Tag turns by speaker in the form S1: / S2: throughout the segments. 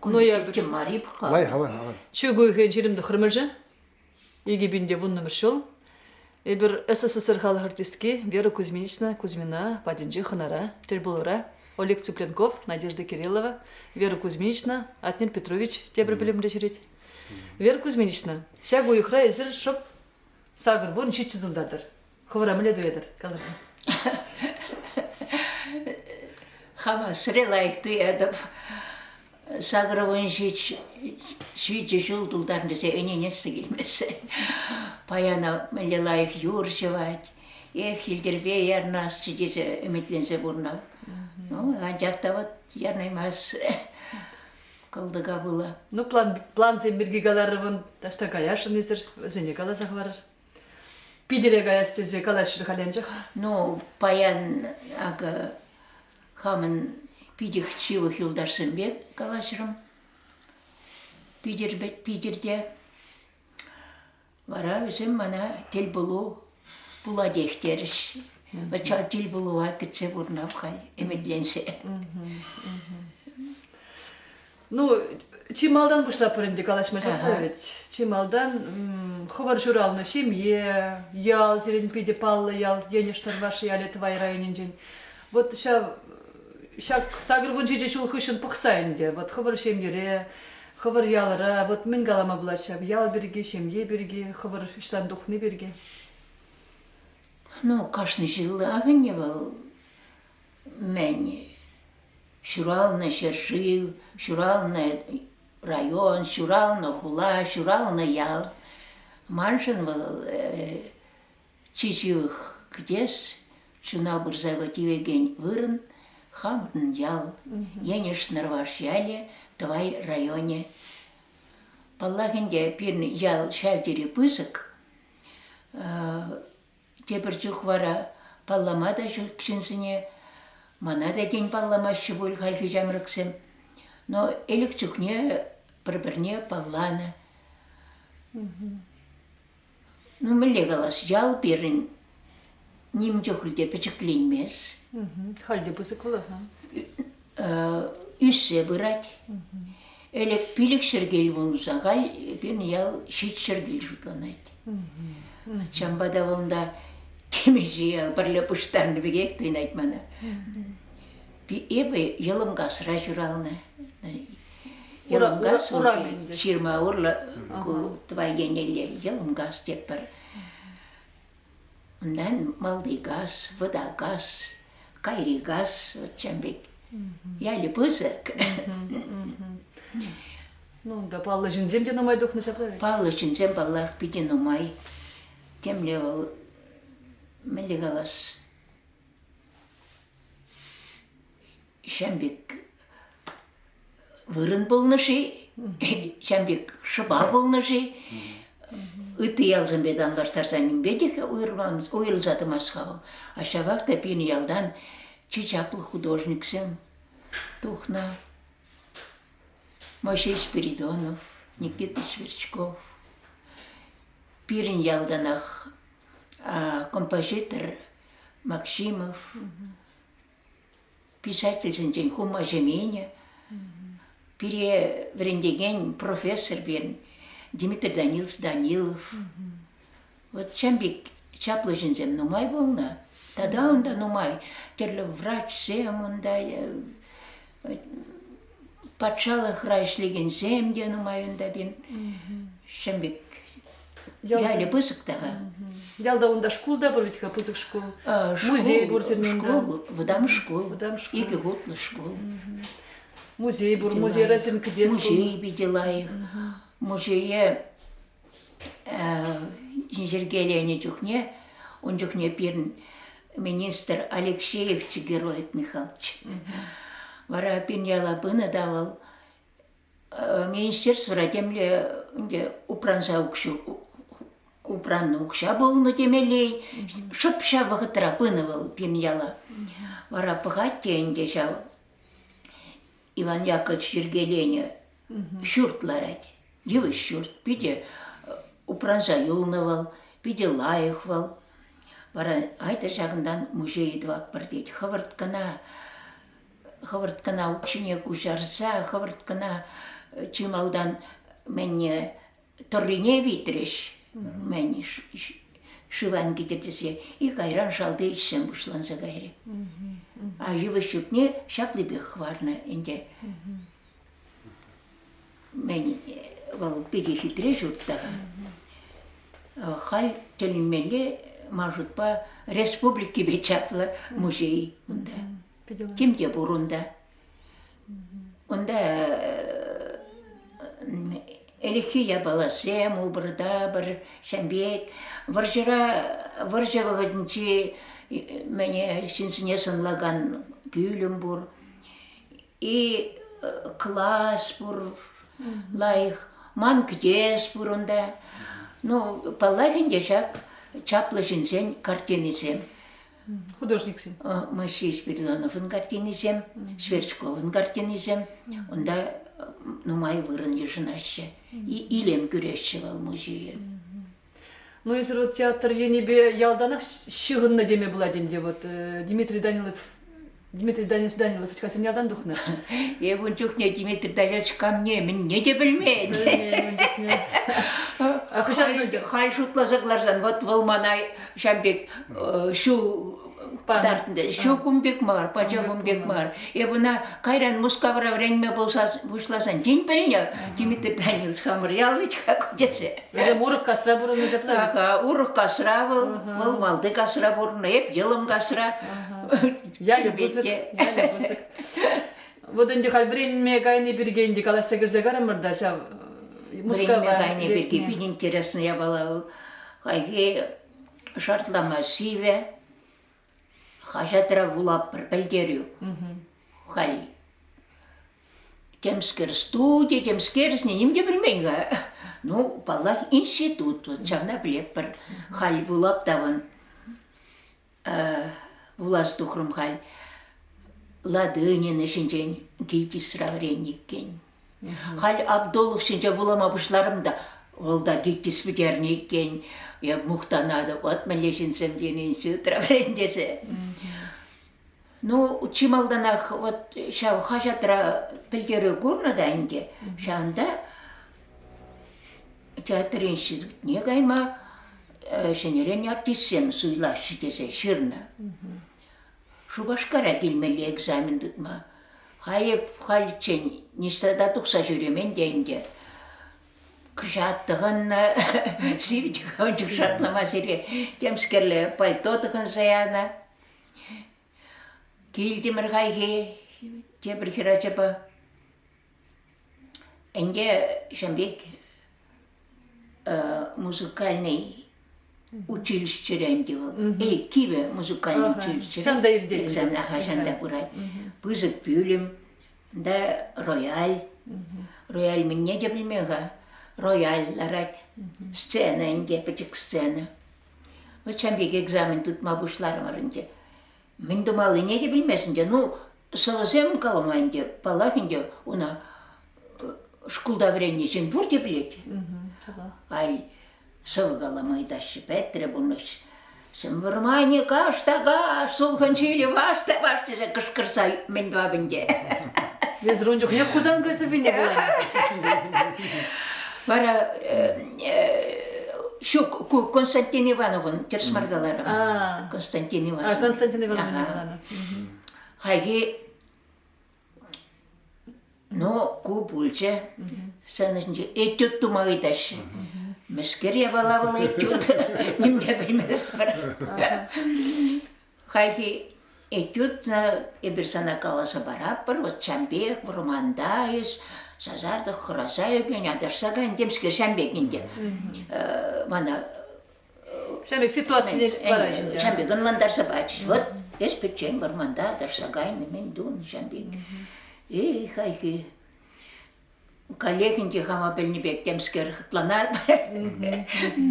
S1: Куноярбыке Марипха. Лайх
S2: аван аван. Чөгөйхе жирим
S1: дөхрмеже. Иги бинде вуннымыш жыл. Эбир СССР халық артистки Вера Кузьминична Кузьмина патӗнче хӑнара, тӗл пулура. Олег Цыпленков, Надежда Кириллова, Вера Кузьминична, Атнер Петрович тепӗр пӗлӗмре ҫӳрет. Вера Кузьминична, ҫак уйӑхра эсир шӑп сакӑр вун ҫиччӗ тултартӑр. Хӑвӑра мӗнле туятӑр? Калӑр.
S3: Хама сире лайӑх туятӑп. Сакӑрвун ҫичӗ ҫул тултарн тесе ӗненессе килмессе. Паяна мӗнле лайӑх юр ҫӑвать. Эх, Илтирпе ярнасчӗ тесе ӗмӗтленсе пурнав. Ну, анчах та вот ярнаймас кӑлтӑка пула. Ну, план, плансем
S1: пирки каларӑмӑн таҫта каясшӑн эсир, вӗсене каласа хӑварӑр. Питӗре каяс тесе калаҫрӗ халь анчах. Ну, паян
S3: акӑ хамӑн питӗх ҫывӑх юлташсем пек калаҫрӑм. Питӗр вӗт Питӗрте. Вара вӗсем мана тӗл пулу пулатех терӗҫ. Ача тӗл пулӑва кӗтсе курнап халь ӗмӗтленсе.
S1: Ну, чи малтан пуҫлатпӑр ӗнтӗ калаҫма ҫакна вӗт. Чи малтан хӑвӑр ҫуралнӑ ҫемье, ял, сирӗн питӗ паллӑ ял, Енӗш Тӑрваш ялӗ Тӑвай районӗнчен. Вот ҫав ҫак сакӑр вун ҫичӗ ҫул хыҫҫӑн пӑхса ӗнтӗ, вот хӑвӑр ҫемьере, хӑвӑр ялӑра вот мӗн калама пулать ҫав, ял пирки, ҫемье пирки, хӑвӑр ӑҫтан тухни пирки. Ну,
S3: кашни ҫыллах ӗнтӗ вӑл. мӗн ҫуралнӑ ҫӗршыв, ҫуралнӑ район, ҫуралнӑ хула, ҫуралнӑ ял. Маншӑн вӑл чи ҫывӑх кӗтес, чуна пырса тивекен вырӑн хамӑрӑн ял. Енӗш Нӑрваш ялӗ, Тӑвай районӗ. Паллах ӗнтӗ, пирӗн ял ҫав тери пысӑк. Тепӗр чух вара паллама та ҫук ҫынсене, мана та тен палламаҫҫӗ пуль хальхи ҫамрӑксем, но ӗлӗк чухне пӗр-пӗрне палланӑ. Ну, мӗнле калас, ял пирӗн ним чухлӗ те пӗчӗкленмест. Халь те
S1: пысӑк вӑл.
S3: ӳссе пырать. Ӗлӗк-пилӗк чӗркел пулнӑ, сахал пирӗн ял ҫич чӗркел шутланать. Ачампа та вӑлунта темиҫе ял пӗрле пуҫтарнӑ пекех туйӑнать мана. Эпӗ Йӑлӑмкасра ҫуралнӑ. Йӑлӑмкас ҫырма урлӑ ку тӑвай еннелле Йӑлӑмкас теппӗр. Унтан малти кас, вӑта кас, кайри кас, вот ҫавӑн пек ялӗ пысӑк.
S1: Ну, унта паллӑ ҫынсем те нумай тухнӑ ҫапла ведь? Паллӑ ҫынсем, паллах,
S3: питӗ нумай. Темле вӑл, мӗнле калас? ҫам пек вырӑн пулнӑ-ши, ҫам пек шӑпа пулнӑ-ши, ытти ялсемпе танлаштарса нимпе те уйрӑлса тӑмасть-ха вӑл. А ҫавах та пирӗн ялтан чи чаплӑ художниксем тухнӑ. Мойсей Спиридонов, Никита Сверчков. Пирӗн ялтанах композитор Максимов, писательсенчен хума ҫеменӗ, пире вӗрентекен профессор пирӗн Дмитрий Данилович Данилов. Вот ҫam пек чаплӑ ҫынсем нумай пулнӑ. Тата унта нумай тӗрлӗ врачсем унта э, патшалӑхра ӗҫлекенсем те нумай унта пин. Ҫӗм пек ялӗ пысӑк та-ха. Ялта
S1: унта шкул та пур ведь-ха, пысӑк шкул. Музей пур
S3: сирмен
S1: Шкул, вӑтам
S3: шкул. Вӑтам шкул. Икӗ хутлӑ
S1: шкул. Музей пур, музей Родин кӗтес. Музей питӗ лайӑх.
S3: Музее йӗркеленӗ чухне ун чухне пирӗн министр Алексеев Чигирольд Михайлович. Вара пирӗн яла пынӑ та вӑл министерствӑра темле ӗнтӗ упранса укҫу упраннӑ укҫа пулнӑ темелле шӑп ҫав вӑхӑтра пынӑ вӑл пирӗн яла. Вара пӑхать те ӗнтӗ ҫав Иван Яковлевич йӗркеленӗ ҫурт ларать. Йывӑҫ ҫурт. Питӗ упранса юлнӑ вӑл, питӗ лайӑх вӑл. Вара айтӑр ҫакӑнтан музей тӑватпӑр тет. Хӑвӑрт кӑна хӑвӑрт кӑна укҫине куҫарса, хӑвӑрт кӑна чи малтан мӗнне тӑррине витрӗҫ. Мӗн шыван китӗр тесе и кайран шалти ӗҫсем пуҫланса кайрӗ. А йывӑҫ ҫутне ҫаплипех хӑварнӑ ӗнтӗ. Мӗн вӑл питӗ хитре ҫурт та. Халь тӗлӗнмелле ман шутпа республикипе чаплӑ музей унта. Тем те пур унта. Унта ӗлӗкхи япаласем, уборта пӗр ҫын пек. Вӑрҫӑра, вӑрҫӑ вӑхӑтӗнчи мӗне ҫынсене сӑнлакан пӳлӗм пур. И класс пур лайӑх. Ман кӗтес пур унта. Ну, паллах ӗнтӗ ҫак чаплӑ ҫынсен картинисем.
S1: художниксем? Мы шесть
S3: Спиридоновын картинисем, Шверчковын картинисем. Унта нумай вырӑн йышӑнаҫҫӗ. Илем кӳреҫҫӗ вӑл музее.
S1: Ну, если вот театр енӗпе ялтанах ҫыхӑннӑ теме пулать ӗнтӗ, вот Дмитрий Данилов Дмитрий Данилович Данилович хасем ялтан тухнӑ. Эп ун чухне
S3: Дмитрий Данилович камне мӗнне те пӗлмен. Пӗлмен ун чухне. Хӑҫан хай шутласа кӑларсан, вот вӑл мана ҫав пек ҫул тартнӑ. Ҫу кун пек мар, пача кун пек мар. Эп ӑна кайран Мускавра вӗренме пуҫласан, тен пӗлнӗ, Дмитрий Данилович хамӑр яланах тесе. Вӗсем урӑх касра
S1: пурӑннӑ ҫапла. Ага, урӑх касра
S3: вӑл, вӑл малти касра пурӑннӑ, эп йӑлӑм касра. ялӗ
S1: пысӑк, ялӗ пысӑк. Вот ӗнтӗ халь вӗренме кайни пирки ӗнтӗ калаҫса кӗрсе карӑмӑр та ҫав Мускава.
S3: Вӗренме кайни пирки питӗ интересно япала вӑл. Хайхи шартлама сивӗ, хаҫатра вулап пӗлтерӳ. Хай темскер студи, темскерсне ним те білмейн-ха. Ну, паллах, институт, вот ҫавна пӗлетпӗр. Халь вулап тавӑн. вуласа тухрӑм халь Ладынина ҫинчен Гитисра вӗреннӗ иккен. Халь Абдулов ҫинче вулама пуҫларӑм та вӑл та Гитис пӗтернӗ иккен. Эп мухтанатӑп, вот мӗнле ҫынсем тенӗ институтра вӗрен тесе. Ну, чи малтанах вот ҫав хаҫатра пӗлтерӳ курнӑ та ӗнтӗ. Ҫавӑнта театр институтне кайма э, ҫӗнӗрен артистсем суйлаҫҫӗ тесе ҫырнӑ. Шупашкара килмелли экзамен тытма. Халь, хальччен ниҫта тухса ҫӳремен те ӗнтӗ. Кӑҫат тӑхӑннӑ, сивӗтӗ каванчук шартлама сире темскерле пальто тӑхӑнса янӑ. Килтӗмӗр хайхи тепӗр хӗрачапа. Ӗнтӗ ҫын пек музыкальный училищӗре ӗнтӗ вӑл. Эй, кивӗ музыкальный училище. Ҫанта иртет. Александр
S1: Ахачанта
S3: курать. Пысӑк пӳлӗм, да рояль. Рояль мӗнне те пӗлмӗ-ха. Рояль ларать. Сцена ӗнтӗ, пӗчӗк сцена. Ӑччен пек экзамен тытма пуҫларӑмӑр ӗнтӗ. Мӗн тумаллине те пӗлмест ӗнтӗ. Ну, сӑвӑсем калама ӗнтӗ, паллах ӗнтӗ, уна шкулта вӗреннӗ ҫын пурте пӗлет. Ай, сӑвӑ калама ыйтаҫҫӗ, пӗтрӗ пурнӑҫ. Вӑрмане каш та каш, сулхӑн ҫилӗ ваш та ваш тесе кӑшкӑрса мӗн тӑвап ӗнтӗ. Эсир
S1: ун чухне Хусан кӗсӗвине вула.
S3: Вара Ҫук, Константин Ивановӑн тӗрсмар каларӑм. Константин Ивановӑн. Константин Ивановна
S1: каланӑ. Хайхи
S3: но ку пулчӗ. Сценинче этюд тума ыйтаҫҫӗ. Мӗскер япала вӑл этюд? Ним те белместпӗр. Хайхи этюдна эпир сана каласа паратпӑр, вот ҫам пек, вӑрманта эс сасартӑк хӑраса ӳкӗн, аташса кайӑн темскер ҫам пек ӗнтӗ. Мана
S1: Ҫав пек ситуацисем вара ӗнтӗ. ҫам пек ӑнлантарса пачӗҫ.
S3: Вот эс пӗччен вӑрманта аташса кайнӑ, мӗн тунӑ ҫам пек. И хайхи Коллег ӗнтӗ хама пӗлнӗ пек темскер хӑтланать.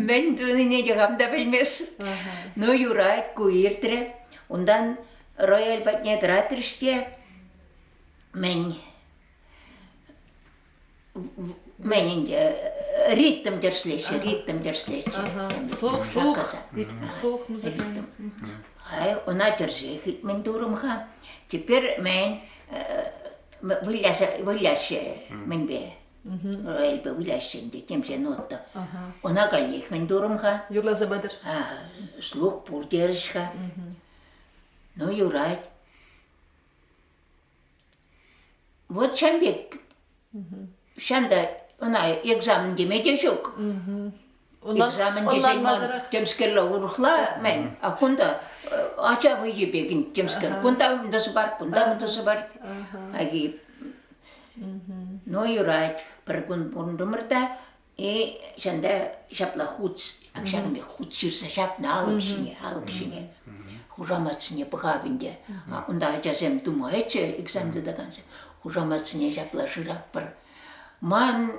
S3: Мӗн тунине те хам та пӗлмест. Ну, юрать, ку иртрӗ. Унтан рояль патне тӑратрӗҫ те мӗн мӗн ӗнтӗ ритм тӗрӗслеҫҫӗ, ритм тӗрӗслеҫҫӗ. Слух, слух,
S1: слух музыкальный.
S3: Ай, ӑна тӗрсе хитмен турӑм-ха. Теперь мӗн Выляса, выляҫҫӗ мӗнпе? Эльпе выляҫҫӗ ӗнтӗ, темсен отто. Ӑна каллех мӗн турӑм-ха? Юрласа пытӑр.
S1: Слух
S3: пур терӗҫ-ха. Ну, юрать. Вот ҫан пек Ҫантать ӑна экзамен теме те ҫук. Экзамен тесен ман темскерле урӑхла мӗн, а кунта ача вӑййи пекӗн темскер. Кунта мындӑсӑ бар, кунта мындӑсӑ бар. Ну юрать, пӗр кун пурӑнтӑмӑр та И ҫында ҫапла хут ҫакӑн хут ҫырса ҫапнӑ алӑк ҫине алӑк ҫине хушаматсене пӑхап ӗнтӗ. Унта ачасем думаеччӗ экзам тытакансем. Хушаматсене ҫапла шырап пар. Ман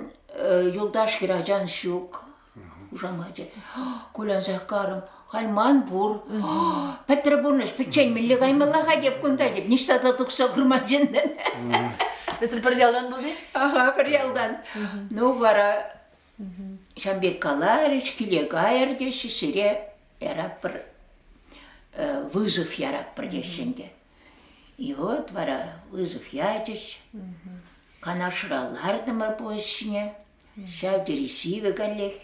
S3: юлташ хӗрачан ҫук. Хушамачӗ. Кулянса карӑм. Кайман пур. Пӗтрӗ пурнӑҫ, пӗччен мӗнле каймалла-ха теп кунта теп, ниҫта та тухса курман ҫыннӑн. Вӗсем
S1: пӗр ялан пулни? Ага, пӗр ялтан.
S3: Ну вара ҫам пек каларӗҫ, киле кайӑр теҫҫӗ, сире яратпӑр, вызов яратпӑр теҫҫӗ ӗнтӗ. И вот вара вызов ячӗҫ. Канашра лартӑмӑр поезд ҫине. Ҫав тери сивӗ каллех.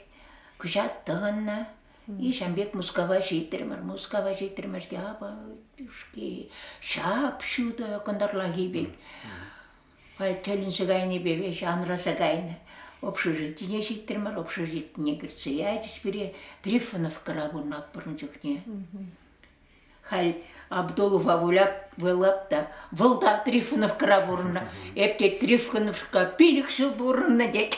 S3: Кӑҫат тӑхӑннӑ. И ҫавӑн пек Мускава ҫитрӗмӗр. Мускава ҫитрӗмӗр те апа шки ҫап ҫутӑ кӑнтӑрлахи пек. Тӗлӗнсе кайнипе веҫ анраса кайнӑ. Общежитине ҫитрӗмӗр, общежитине кӗртсе ячӗҫ пире Трифоновкӑра пурӑнатпӑр ун чухне. Халь Абдулова выляп, вылап та, вӑл та Трифоновкӑра пурӑннӑ. Эп те Трифоновка пилӗк ҫул пурӑннӑ тет.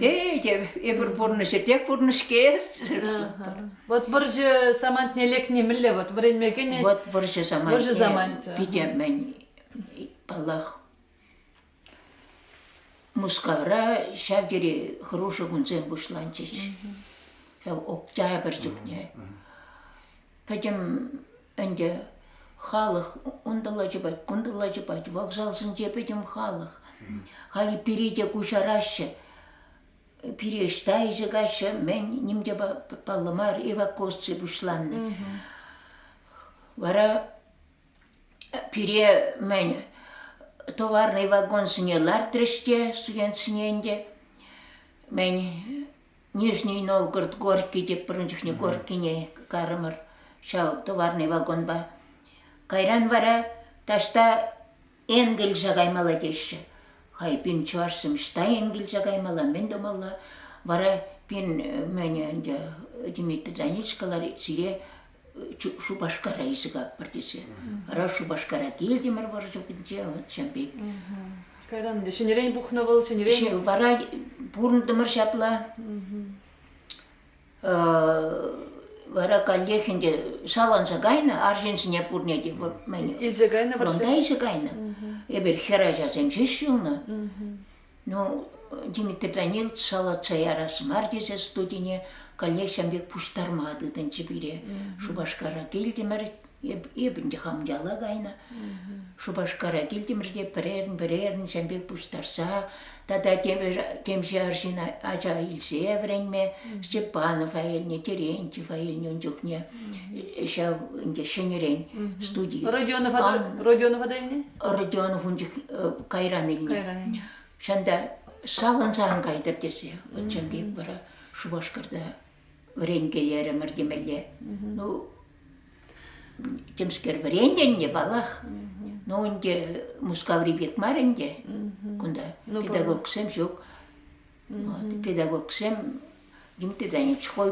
S3: Э, те эпир пурнӑҫӗтех пурнӑҫ-ке. Вот
S1: вӑрҫӑ самантне лекни мӗнле вот вӗренме кӗнӗ? Вот вӑрҫӑ самантне.
S3: Вӑрҫӑ самант. Питӗ мӗн, паллах, Мускавра ҫав тери хӑрушӑ кунсем пуҫланчӗҫ. Ҫав октябрь чухне. Пӗтӗм ӗнтӗ халӑх унталла чупать, кунталла чупать. Вокзалсенче пӗтӗм халӑх. Халӗ пире те куҫараҫҫӗ. Пире ӑҫта илсе каҫҫӗ? Мӗн ним те паллӑ мар эвакуаци пуҫланнӑ. Вара Пире, мӗн, товарный вагонсене лартрӗҫ те студентсене ӗнтӗ. Мӗн, Нижний Новгород Горький тепӗрин чухне Горькийне кайрӑмӑр ҫав товарный вагонпа. Кайран вара таҫта Энгельсе каймалла теҫҫӗ. Хай пин чӑвашсем ӑҫта Энгельсе каймалла, мӗн тумалла? Вара пин мӗн ӗнтӗ Дмитрий Донецкалар сире Шупашкара илсе тесе. Хорошо, Шупашкара килтӗмӗр вӑрҫӑнче, чӑн пек. Кайран
S1: ҫӗнӗрен пухнӑ вӑл, ҫӗнӗрен. Вара
S3: пурӑнтӑмӑр ҫапла. вара каллех ӗнтӗ саланса кайнӑ арҫынсене пурне те мӗн илсе кайнӑ
S1: фронта илсе кайнӑ
S3: эпир хӗр ачасем ҫеҫ ҫулнӑ ну Дмитрий Данилович салатса ярас мар тесе студине каллех ҫam пек пуҫтарма тытӑнчӗ пире Шупашкара килтӗмӗр Эп, эп ӗнтӗ хам яла кайнӑ. Шупашкара килтӗмӗр те пӗрерӗн, пӗрерӗн ҫам пек пуҫтарса тата тепӗр кемҫе арҫын ача илсе вӗренме Степанова илнӗ, Терентьева илнӗ ун чухне. Ҫав ӗнтӗ ҫӗнӗрен студи. Родионова та, Родионова
S1: та илнӗ? Родионов ун чух
S3: кайран илнӗ. Кайран илнӗ. Ҫанта савӑнсан кайтӑр тесе. Чӑн пек вара Шупашкарта вӗренкелерӗмӗр темелле. Ну, темскер вӗрентӗннӗ паллах. Ну, ӗнтӗ Мускаври пек мар ӗнтӗ кунта. Ну, педагогсем ҫук. Педагогсем ним туда не чхой